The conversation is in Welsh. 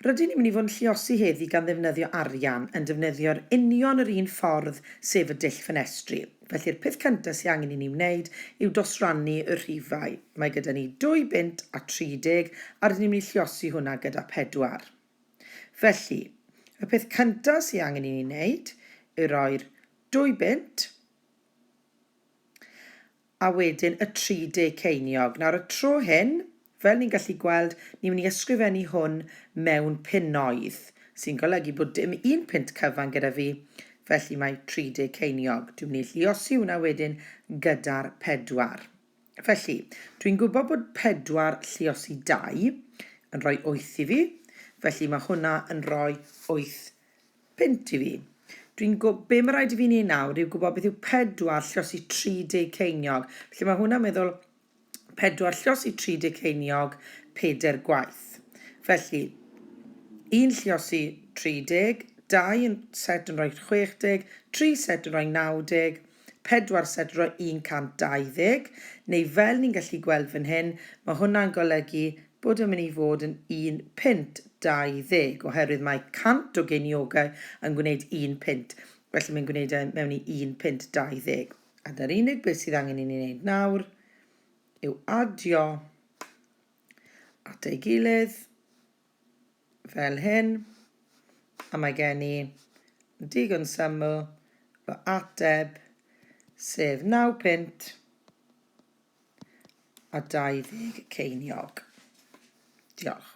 Rydyn ni'n mynd i fod yn lluosi heddi gan ddefnyddio arian yn defnyddio'r union yr un ffordd sef y dull ffenestri. Felly'r peth cyntaf sydd angen i ni wneud yw dosrannu y rhifau. Mae gyda ni dwy bunt a tri deg a rydyn ni'n mynd i lluosi hwnna gyda phedwar. Felly, y peth cyntaf sydd angen i ni wneud yw roi'r dwy bunt a wedyn y 30 ceiniog. Nawr y tro hyn, fel ni'n gallu gweld, ni'n mynd i ysgrifennu hwn mewn punnoedd, sy'n golygu bod dim un punt cyfan gyda fi, felly mae 30 ceiniog. Dwi'n mynd i lluosi hwnna wedyn gyda'r pedwar. Felly, dwi'n gwybod bod pedwar lluosi dau yn rhoi wyth i fi, felly mae hwnna yn rhoi wyth Punt i fi. Dwi'n gw- be mae rhaid i fi wneud nawr yw gwybod beth yw pedwar llos i 30 ceiniog. Felly mae hwnna'n meddwl pedwar llos i 30 ceiniog peder gwaith. Felly, un llos i 30, dau yn- set yn rhoi 60, tri set yn rhoi 90, pedwar set ro 120, neu fel ni'n gallu gweld fan hyn, mae hwnna'n golygu bod yn mynd i fod yn un punt 20, oherwydd mae 100 o geiniogau yn gwneud un punt, felly mae'n gwneud e mewn i un punt 20. A dy'r unig beth sydd angen i ni wneud nawr yw adio at ei gilydd. fel hyn, a mae gen i digon syml fy ateb, sef 9 punt a 20 ceiniog. Diolch.